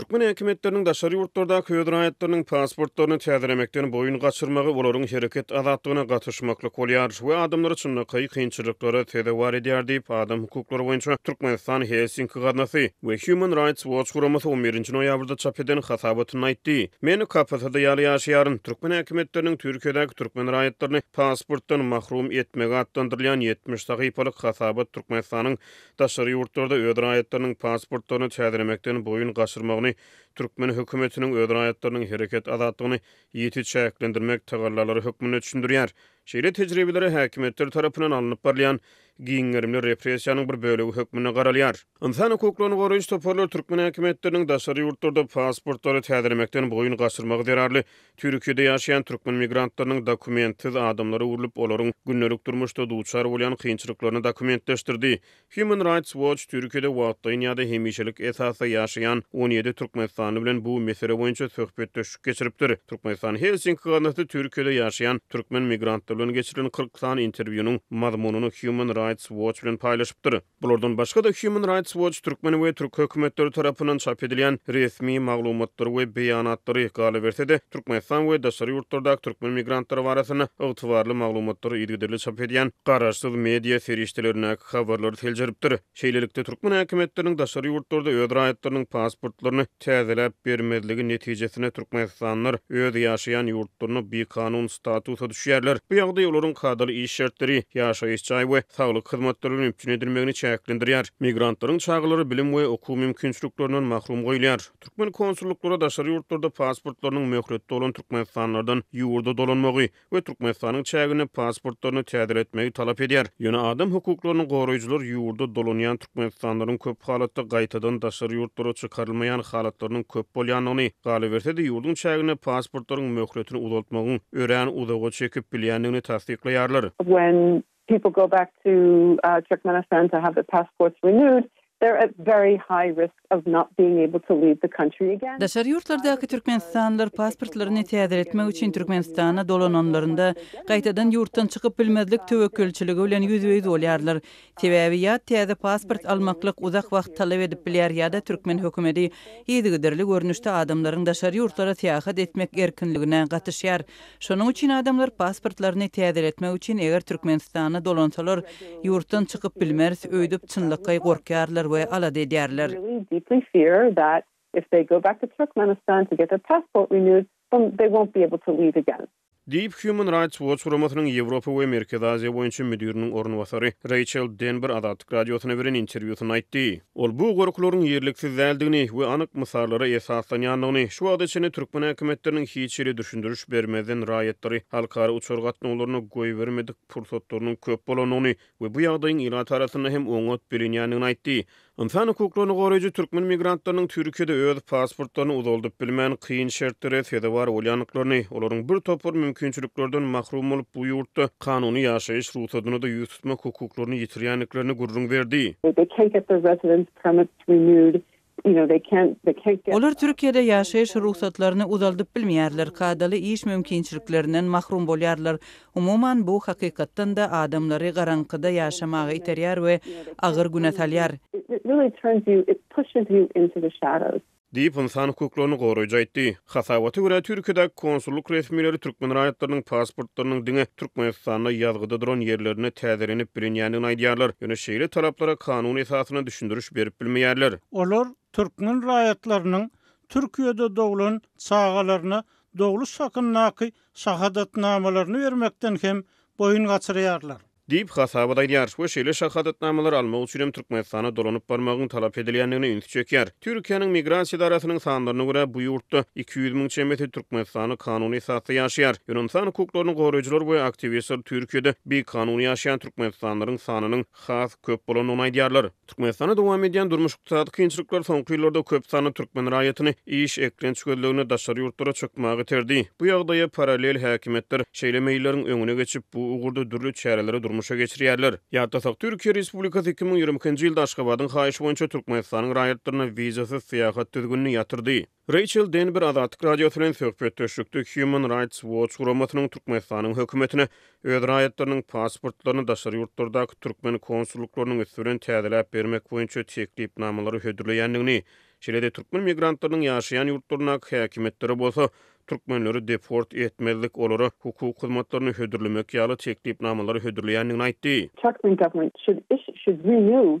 Türkmen häkimiýetleriniň daşary ýurtlardaky öz raýatlarynyň pasportlaryny täzelemekden boýun gaçyrmagy olaryň hereket azatlygyna gatyşmaklyk bolýar we adamlary çynlakaý kynçylyklara sezewar edýär diýip, adam hukuklary boýunça Türkmenistan Helsinki gaznasy we Human Rights Watch guramasy on birinji noýabrda çap eden hasabatynda aýtdy. Men KPTD ýaly ýaşaýaryn. Türkmen häkimiýetleriniň Türkiýedäki türkmen raýatlaryny pasportdan mahrum etmegi atlandyrylýan ýetmiş sahypalyk hasabat Türkmenistanyň daşary ýurtlarda öz raýatlarynyň pasportlaryny täzelemekden boýun gaçyrmagyny, türkmen hökümetiniň öz raýatlarynyň hereket azatlygyny ýiti çäklendirmek tagallalary hökmünde düşündirýär. Şeýle tejribelere häkimiýetler tarapyndan alnyp barylýan giň gerimli repressiýanyň bir bölegi hökmünde garalýar. Ynsan hukuklaryny goraýjy toparlar türkmen häkimiýetleriniň daşary ýurtlarda pasportlary täzelemekden boýun gaçyrmagy zerarly Türkiýede ýaşaýan türkmen migrantlarynyň dokumentsiz adamlara öwrülip, olaryň gündelik durmuşda duçar bolýan kynçylyklaryny dokumentleşdirdi. Human Rights Watch Türkiýede wagtlaýyn ýa-da hemişelik esasda ýaşaýan on ýedi türkmenistanly bilen bu mesele boýunça söhbetdeşlik geçiripdir. Türkmenistan Helsinki gaznasy Türkiýede ýaşaýan türkmen migrantlar bilen geçirilen kyrk sany interwýunyň mazmunyny Human Rights Watch bilen paýlaşypdyr. Bulardan başga-da, Human Rights Watch Türkmen we türk hökümetleri tarapyndan çap edilýän resmi maglumatlary we beýanatlary, galyberse-de, Türkmenistan we daşary ýurtlardaky türkmen migrantlary barasynda ygtybarly maglumatlary yzygiderli çap edýän garaşsyz media serişdelerindäki habarlary seljeripdir. Şeýlelikde, türkmen häkimiýetleriniň daşary ýurtlarda öz raýatlarynyň pasportlaryny, täzeläp bermezligi netijesinde türkmenistanlylar öz ýaşaýan ýurtlarynda bikanun statusa düşýärler. Bu ýagdaý olaryň kadaly iş şertleri, ýaşaýyş jaý we saglyk hyzmatlary bilen üpjün edilmegini çäklendirýär. Migrantlaryň çagalary bilim we okuw mümkinçiliklerinden mahrum goýulýar. Türkmen konsullyklary daşary ýurtlarda pasportlarynyň möhleti dolan türkmenistanlylardan ýurda dolanmagy, we Türkmenistanyň çäginde pasportlaryny täzeletmegi talap edýär. Ýöne adam hukuklaryny goraýjylar ýurda dolanýan türkmenistanlylaryň köp halatda gaýtadan daşary ýurtlara çykarylmaýan halatlarynyň köp bolýandygyny, galyberse-de ýurduň çäginde pasportlaryň möhletini uzaltmagyň örän uzaga çekip bilýändigini tassyklaýarlar. When people go back to Turkmenistan to have their passports renewed, they're at very high risk of not being able to leave the country again. Daşary ýurtlardaky türkmenistanlylar pasportlaryny täzeletmek üçin Türkmenistana dolananlarynda, gaýtadan ýurtdan çykyp bilmezlik töwekgelçiligi bilen ýüzbe-ýüz bolýarlar. Sebäbi ýa täze pasport almaklyk uzak wagt talap edip bilýär ýa-da türkmen hökümeti yzygiderli görnüşde adamlaryň daşary ýurtlara syýahat etmek erkinligine gatyşýar. Şonuň üçin adamlar pasportlaryny täzeletmek üçin eger Türkmenistana dolansalar, ýurtdan çykyp bilmeris öýdüp çynlakaý gorkýarlar we alada edýärler. Diýip, Human Rights Watch guramasynyň Ýewropa we Merkezi Aziýa boýunça müdiriniň orunbasary Reýçel Denber Azatlyk Radiosyna beren interwýusynda aýtdy. Ol bu gorkularyň ýerliksiz däldigini we anyk mysallara esaslanýandygyny, şu wagta çenli türkmen häkimiýetleriniň hiç hili düşündiriş bermezden raýatlary halkara uçar gatnawlaryna goýbermedik pursatlarynyň köp bolandygyny we bu ýagdaýyň ilat arasynda hem oňat bilinýändigini aýtdy. Ynsan hukuklaryny goraýjy türkmen migrantlarynyň Türkiýede öz pasportlaryny uzaldyp bilmän, kyn şertlere sezewar bolýandyklaryny, olaryň bir topar mümkinçiliklerden mahrum bolup bu ýurtda kanuny ýaşaýyş rugsadyna-da ýüz tutmak hukuklaryny ýitirýändiklerini gürrüň berdi. Olar Türkiýede ýaşaýyş rugsatlaryny uzaldyp bilmeýärler, kadaly iş mümkinçiliklerinden mahrum bolýarlar. Umuman, bu hakykatdan-da adamlary garaňkyda ýaşamaga iterýär we agyr güne salýar. Diýip, ynsan hukuklaryny goraýjy aýtdy. Hasabata görä, Türkiýedäki konsullyk resmileri türkmen raýatlarynyň pasportlarynyň diňe Türkmenistanda ýazgyda duran ýerlerinde täzelenip bilinýändigini aýdýarlar, ýöne şeýle talaplara kanun esasynda düşündiriş berip bilmeýärler. Olar türkmen raýatlarynyň Türkiýede doglan çagalaryna dogluş hakyndaky şahadatnamalaryny bermekden hem boýun gaçyrýarlar. Diýip, hasabat aýdýar we şeýle şahadatnamalary almak üçin hem Türkmenistana dolanyp barmagyň talap edilýändigine ünsi çekýär. Türkiýäniň Migrasiýa edarasynyň sanlaryna görä, bu ýurtda iki ýüz müň çemesi Türkmenistanda kanuny esasda ýaşaýar. Ynsan hukuklaryny goraýjylar we aktiwistler Türkiýede bikanuny ýaşaýan türkmenistanlylaryň sanynyň has köp bolandygyny aýdýarlar. Türkmenistanda dowam edýän durmuş-ykdysady kynçylyklar soňky ýyllarda köp sanly türkmen raýatyny iş, eklenç gözleginde daşary ýurtlara çykmaga iterdi. Bu ýagdaýa parallel häkimiýetler şeýle meýilleriň öňüne geçip, bu ugurda dürli çäreleri durmuşa geçirýärler. Ýatlasak, Türkiýe Respublikasy iki müň ýigrimi ikinji ýylda Aşgabadyň haýyşy boýunça Türkmenistanyň raýatlaryna wizasyz syýahat düzgünini ýatyrdy. Reýçel Denber Azatlyk Radiosy bilen söhbetdeşlikde Human Rights Watch guramasynyň Türkmenistanyň hökümetine öz raýatlarynyň pasportlaryny daşary ýurtlardaky türkmen konsullyklarynyň üsti bilen täzeläp bermek boýunça teklipnamalary hödürleýändigini, şeýle-de türkmen migrantlarynyň ýaşaýan ýurtlaryndaky häkimiýetlere bolsa türkmenleri deport etmezlik, olara hukuk hyzmatlaryny hödürlemek ýaly teklipnamalary hödürleýändigini aýtdy. Çak Wynterman should iş should renew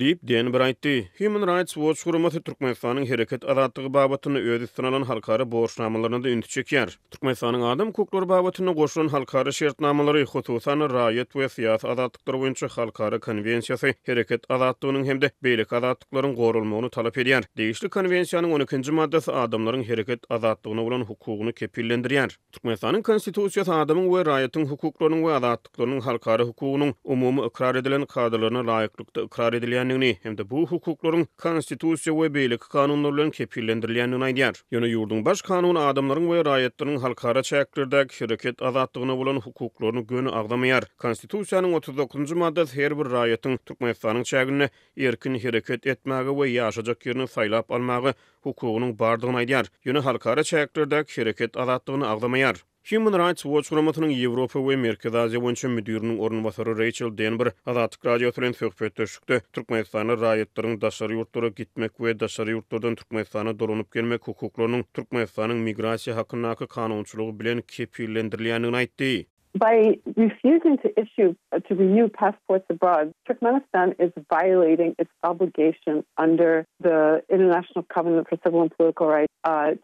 Diýip, Denber aýtdy. Human Rights Watch guramasy Türkmenistanyň hereket azatlygy babatynda öz üstüne alan halkara borçnamalaryna-da ünsi çekýär. Türkmenistanyň adam hukuklary babatynda goşulan halkara şertnamalary, hususan-da, raýat we syýasy azatlyklary boýunça halkara konwensiýasy hereket azatlygynyň hem-de beýleki azatlyklaryň goralmagyny talap edýär. Degişli konwensiýanyň on ikinji maddasy adamlaryň hereket azatlygyna bolan hukugyny kepillendirýär. Türkmenistanyň Konstitusiýasy adamyň we raýatyň hukuklarynyň we azatlyklarynyň halkara hukugynyň umumy ykrar edilen kadalaryna laýyklykda ykrar edilýändigini hem-de bu hukuklaryň Konstitusiýa we beýleki kanunlar bilen kepillendirilýändigini aýdýar. Ýöne ýurduň Baş Kanuny adamlaryň we raýatlaryň halkara çäklerdäki hereket azatlygyna bolan hukuklaryny göni agzamaýar. Konstitusiýanyň otuz dokuzynjy maddasy her bir raýatyň Türkmenistanyň çäginde erkin hereket etmäge we ýaşajak ýerini saýlap almaga hukugynyň bardygyny aýdýar, ýöne halkara çäklerdäki hereket azatlygyny agzamaýar. Human Rights Watch guramasynyň Ýewropa we Merkezi Aziýa boýunça müdiriniň orunbasary Reýçel Denber Azatlyk Radiosy bilen söhbetdeşlikde türkmenistanly raýatlaryň daşary ýurtlara gitmek we daşary ýurtlardan Türkmenistana dolanyp gelmek hukuklarynyň Türkmenistanyň migrasiýa hakyndaky kanunçylygy bilen kepillendirilýändigini aýtdy. By refusing to issue to renew passports abroad, Turkmenistan is violating its obligation under the International Covenant for Civil and Political Rights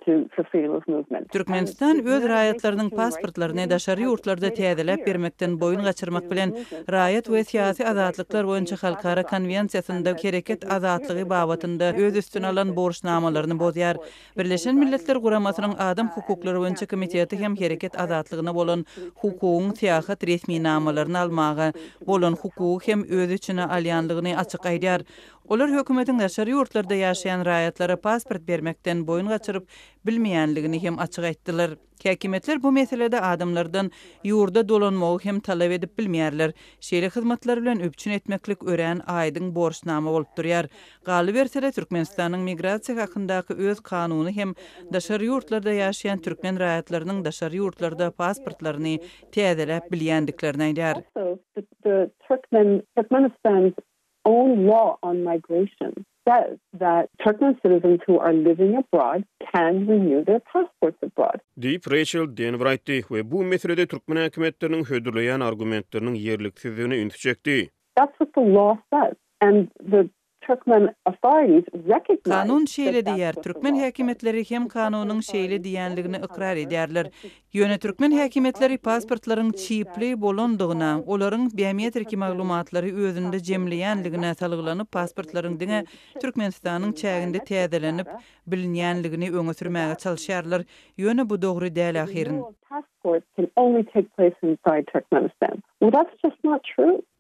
to for freedom of movement. Türkmenistan öz raýatlarynyň pasportlaryny daşary ýurtlarda täzeläp bermekden boýun gaçyrmak bilen Raýat we syýasy azatlyklar boýunça halkara konwensiýasynda hereket azatlygy babatynda öz üstüne alan borçnamalaryny bozýar Birleşen Milletler Guramasynyň Adam hukuklary boýunça komiteti hem hereket azatlygyna bolan hukugyň syýahat resminamalaryny almaga bolan hukugy hem öz içine alýandygyny açyk aýdýar. Olar hökümetiň daşary ýurtlarda ýaşaýan raýatlara pasport bermekden boýun gaçyryp bilmeýändigini hem açyk aýtdylar. Häkimiýetler bu meselede adamlardan ýurda dolanmagy hem talap edip bilmeýärler. Şeýle hyzmatlar bilen üpjün etmeklik örän aýdyň borçnama bolup durýar. Galyberse-de, Türkmenistanyň migrasiýa hakyndaky öz kanuny hem daşary ýurtlarda ýaşaýan türkmen raýatlarynyň daşary ýurtlarda pasportlaryny täzeläp bilýändiklerini aýdýar. own law on migration says that Turkmen citizens who are living abroad can renew their passports abroad. Diýip, Reýçel Denwer aýtdy we bu meselede türkmen häkimiýetleriniň hödürleýän argumentleriniň ýerliksizdigine ünsi çekdi. That's what the law says and the Turkmen authorities recognize that that's what the law says. Kanun şeýle diýýär, türkmen häkimiýetleri hem kanunyň şeýle diýýänligini ykrar edýärler. Ýöne türkmen häkimiýetleri pasportlaryň çipli bolandygyna, olaryň biometriki maglumatlary özünde jemleýänligine salgylanyp, pasportlaryň diňe Türkmenistanyň çäginde täzelenip bilinýänligini öňe sürmäge çalyşýarlar. Ýöne bu dogry däl ahyryn.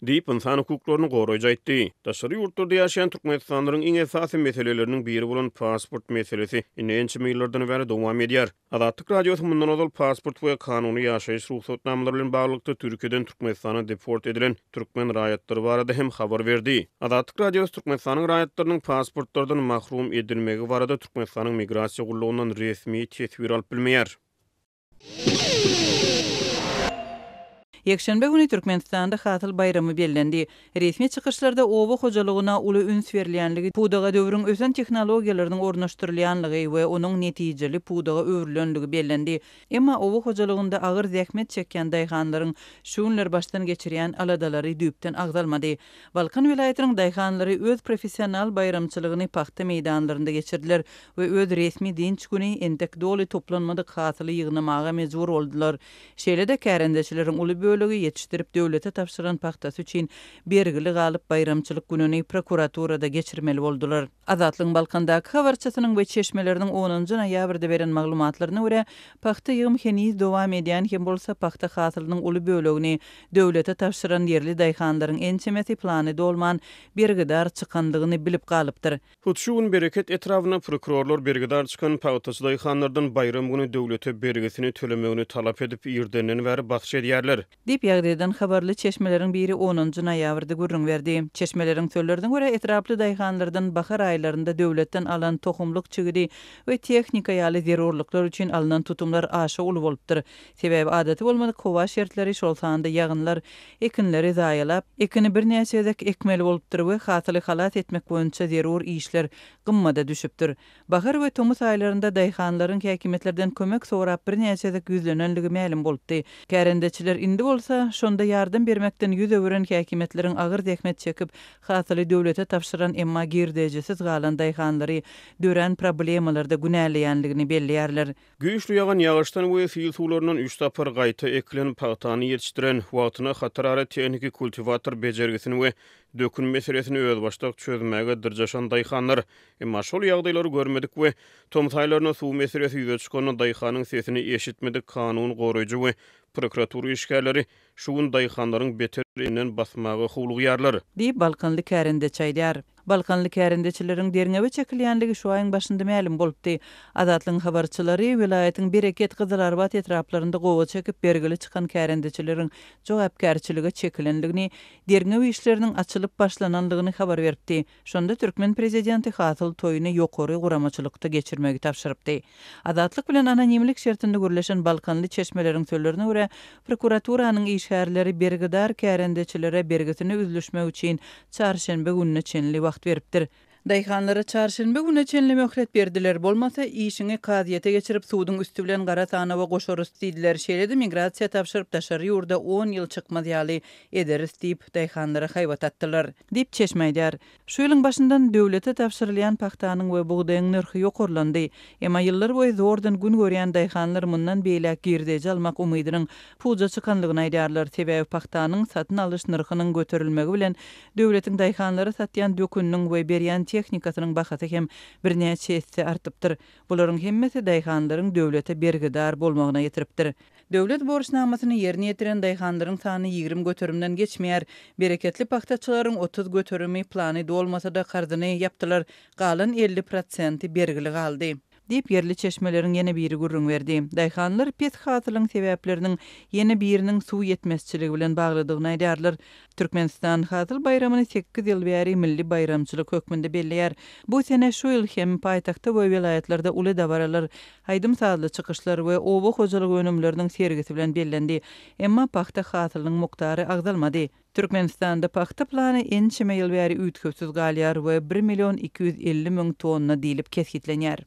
Diýip, ynsan hukuklaryny goraýjy aýtdy. Daşary ýurtlarda ýaşaýan türkmenistanlylaryň iň esasy meseleleriniň biri bolan pasport meselesi indi ençeme ýyllardan bäri dowam edýär. Azatlyk Radiosy mundan ozal pasport we kanuny ýaşaýyş rugsatnamalary bilen baglylykda Türkiýeden Türkmenistana deport edilen türkmen raýatlary barada hem habar berdi. Azatlyk Radiosy Türkmenistanyň raýatlarynyň pasportlardan mahrum edilmegi barada Türkmenistanyň Migrasiýa gullugyndan resmi teswir alyp bilmeýär. Ýekşenbe güni Türkmenistanda Hasyl baýramy bellendi. Resmi çykyşlarda oba hojalygyna uly üns berilýänligi, pudaga döwrüň ösen tehnologiýalarynyň ornaşdyrylýanlygy we onuň netijeli pudaga öwrülenligi bellendi. Emma oba hojalygynda agyr zähmet çekýän daýhanlaryň şu günler başdan geçirýän aladalary düýpden agzalmady. Balkan welaýatynyň daýhanlary öz professional baýramçylygyny pagta meýdanlarynda geçirdiler we öz resmi dynç güni entek doly toplanmadyk hasyly ýygnamaga mejbur boldular. Şeýle-de kärendeçileriň uly bölegi ýetişdirip döwlete tabşyran pagtasy üçin bergili galyp baýramçylyk gününi prokuraturada geçirmeli boldular. Azatlygyň Balkandaky habarçysynyň we çeşmeleriniň onunjy noýabrda beren maglumatlaryna görä, pagta ýygym heniz dowam edýän hem bolsa pagta hasylynyň uly bölegini döwlete tabşyran ýerli daýhanlaryň ençemesi plany dolman bergidar çykandygyny bilip galypdyr. Hut şu gün Bereket etrabyna prokurorlar bergidar çykan pagtaçy daýhanlardan baýram güni döwlete bergisini tölemegini talap edip, irdenden bäri bakja edýärler. Diýip, ýagdaýdan habarly çeşmeleriň biri onunjy noýabrda gürrüň berdi. Çeşmeleriň sözlerine görä, etraply daýhanlardan bahar aýlarynda döwletden alan tohumlyk çigidi we tehnika ýaly zerurlyklar üçin alnan tutumlar aşa uly bolupdyr. Sebäbi adaty bolmadyk howa şertleri, şol sanda ýagynlar ekinleri zaýalap, ekini birnäçe gezek ekmeli bolupdyr we hasyly halas etmek boýunça zerur işler gymmada düşüpdir. Bahar we tomus aýlarynda daýhanlaryň häkimiýetlerden kömek sorap birnäçe gezek ýüzlenenligi mälim bolupdy. Kärendeçiler indi bolsa, şonda ýardam bermekden ýüz öwüren häkimiýetleriň agyr zähmet çekip, hasyly döwlete tabşyran, emma girdejisiz galan daýhanlary dörän problemalarda günäleýänligini belleýärler. Güýçli ýagan ýagyşdan we sil suwlaryndan üç sapar gaýta ekilen pagtany ýetişdiren, wagtyna hatarara tehniki kultiwator bejergisini we dökün meselesini özbaşdak çözmäge dyrjaşan daýhanlar, emma şol ýagdaýlary görmedik we tomsaýlaryna suw meselesi ýüze çykanda daýhanyň sesini eşitmedik kanun goraýjy we prokuratura işgärleri Şu gün daýhanlaryň beter inden basmaga howlugýarlar. Diýip, balkanly kärendeçi aýdýar. Balkanly kärendeçileriň derňewe çekilýänligi şu aýyň başynda mälim bolupdy. Azatlygyň habarçylary welaýatyň Bereket, Gyzylarbat etraplarynda gowa çekip bergili çykan kärendeçileriň jogapkärçilige çekilenligini, derňew işleriniň açylyp başlananlygyny habar beripdi. Şonda türkmen prezidenti hasyl toýuny ýokary guramaçylykda geçirmegi tabşyrypdy. Azatlyk bilen anonimlik şertinde gürleşen balkanly çeşmeleriň sözlerine görä, prokuraturanyň işgärleri bergidar kärendeçilere bergisini üzlüşmek üçin çarşenbe gününe çenli wagt beripdir. Daýhanlara çarşenbe güne çenli möhlet berdiler, bolmasa, işiňi kazyýete geçirip, suduň üsti bilen gara sanawa goşarys diýdiler. Şeýle-de migrasiýa tabşyryp, daşary ýurda on ýyl çykmaz ýaly ederis diýip, daýhanlara haýbat atdylar. Diýip, çeşme aýdýar. Şu ýylyň başyndan döwlete tabşyrylýan pagtanyň we bugdaýyň nyrhy ýokarlandy. Emma ýyllar boýy zordan gün görýän daýhanlar mundan beýläk girdeji almak umydynyň puja çykandygyny aýdýarlar, sebäbi pagtanyň satyn alyş nyrhynyň göterilmegi bilen döwletiň daýhanlara satýan döküniniň we berýän tehnikasynyň bahasy hem birnäçe esse artypdyr. Bularyň hemmesi daýhanlaryň döwlete bergidar bolmagyna getiripdir. Döwlet borçnamasyny ýerine ýetiren daýhanlaryň sany ýigrimi göterimden geçmeýär. Bereketli pagtaçylaryň otuz göterimi plany dolmasa-da karzyny ýapdylar, galan elli prosenti bergili galdy. Diýip, ýerli çeşmeleriň ýene biri gürrüň berdi. Daýhanlar pes hasylyň sebäpleriniň ýene biriniň suw ýetmezçiligi bilen baglydygyny aýdýarlar. Türkmenistan Hasyl baýramyny sekiz ýyl bäri milli baýramçylyk hökmünde belleýär. Bu sene şu ýyl hem paýtagtda we welaýatlarda uly dabaralar, aýdym-sazly çykyşlar we oba hojalyk önümleriniň sergisi bilen bellendi. Emma pagta hasylynyň mukdary agzalmady. Türkmenistanda pagta plany ençeme ýyl bäri üýtgewsiz galýar we bir million iki ýüz elli müň tonna diýlip kesgitlenýär.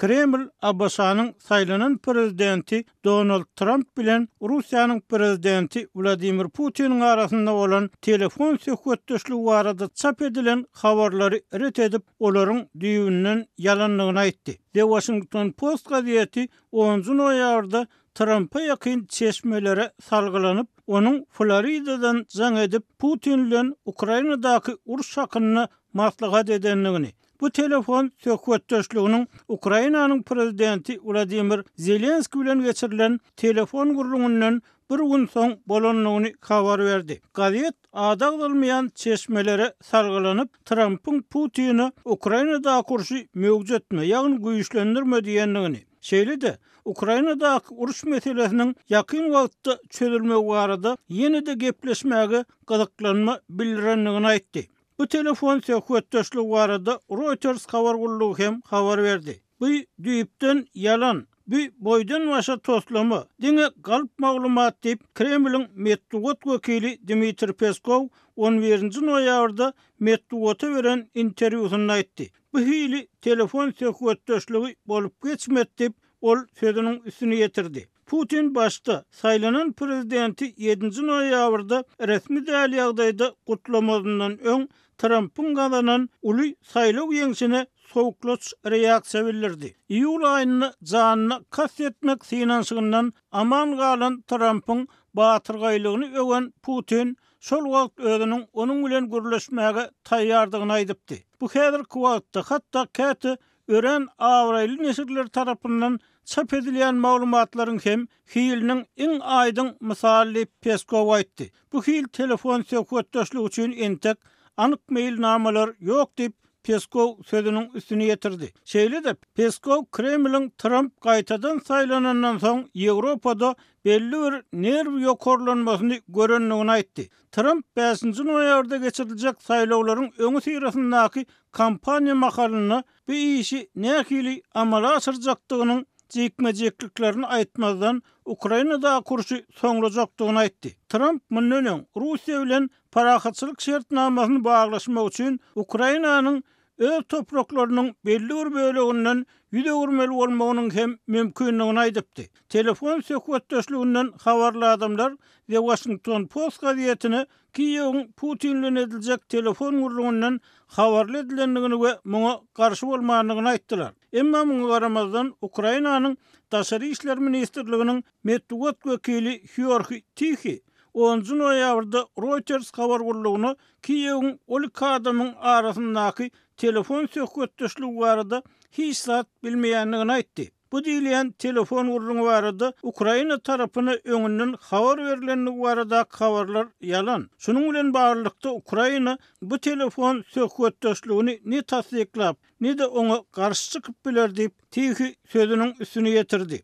Kreml ABŞ-nyň saýlanan prezidenti Donald Tramp bilen Russiýanyň prezidenti Wladimir Putiniň arasynda bolan telefon söhbetdeşligi barada çap edilen habarlary ret edip, olaryň düýbünden ýalandygyny aýtdy. The Washington Post gazeti onunjy noýabrda Trampa ýakyn çeşmelere salgylanyp, onuň Floridadan jaň edip, Putin bilen Ukrainadaky uruş hakynda maslahat edendigini, bu telefon söhbetdeşliginiň Ukrainanyň prezidenti Wladimir Zelenskiý bilen geçirilen telefon gürrüňinden bir gün soň bolandygyny habar berdi. Gazet ady agzalmaýan çeşmelere salgylanyp, Trampyň Putine Ukrainadaky urşy möwjetme, ýagny güýçlendirme diýendigini, şeýle-de Ukrainadaky uruş meselesiniň ýakyn wagtda çözülmegi barada ýene-de gepleşmäge gyzyklanma bildirendigini aýtdy. Bu telefon söhbetdeşligi barada Reuters habar gullugy hem habar berdi. Bu düýpden ýalan, bu boýdan-başa toslama, diňe galp maglumat diýip, Kremliň metbugat wekili Dmitriý Peskow on birinji noýabrda metbugata beren interwýusynda aýtdy. Bu hili telefon söhbetdeşligi bolup geçmedi diýip, ol sözüniň üstüni ýetirdi. Putin başda, saýlanan prezidenti ýedinji noýabrda resmi däl ýagdaýda gutlamazyndan öň, Trampyň gazanan uly saýlaw ýeňşine sowuklaç reaksiýa bildirdi. Iýul aýynda janyna kast etmek synanyşygyndan aman galan Trampyň batyrgaýlygyny öwen Putin şol wagt özüniň onuň bilen gürleşmäge taýýardygyny aýdypdy. Bu häzirki wagtda hatda käte Örän abraýly neşirler tarapyndan çap edilýän maglumatlaryň hem hiliniň iň aýdyň mysaly diýip, Peskow aýtdy. Bu hil telefon söhbetdeşligi üçin entek anyk meýilnamalar ýok diýip, Peskow sözüniň üstüni ýetirdi. Şeýle-de, Peskow Kremliň Tramp gaýtadan saýlanandan soň Ýewropada belli bir nerw ýokarlanmasyny görendigini aýtdy. Tramp bäşinji noýabrda geçiriljek saýlawlaryň öňüsyrasyndaky kampaniýa mahalynda bu işi nähili amala aşyrjakdygynyň jikme-jikliklerini aýtmazdan, Ukrainadaky urşy soňlajakdygyny aýtdy. Tramp mundan öň Russiýa bilen parahatçylyk şertnamasyny baglaşmak üçin Ukrainanyň öz topraklarynyň belli bir böleginden ýüz öwürmeli bolmagynyň hem mümkindigini aýdypdy. Telefon söhbetdeşliginden habarly adamlar The Washington Post gazetine Kiýewiň Putin bilen ediljek telefon gürrüňinden habarly edilendigini we muňa garşy bolmandygyny aýtdylar. Emma muňa garamazdan, Ukrainanyň Daşary işler ministrliginiň Metbugat wekili Hýorhi Tihi onunjy noýabrda Reuters habar gullugyna Kiýewiň ol iki adamyň arasyndaky telefon söhbetdeşligi barada hiç zat bilmeýändigini aýtdy. Bu diýilýän telefon gürrüňi barada Ukraina tarapyna öňünden habar berlendigi baradaky habarlar ýalan. Şunuň bilen baglylykda Ukraina bu telefon söhbetdeşligini ne tassyklap, ne-de oňa garşy çykyp biler diýip, Tihi sözüniň üstüni ýetirdi.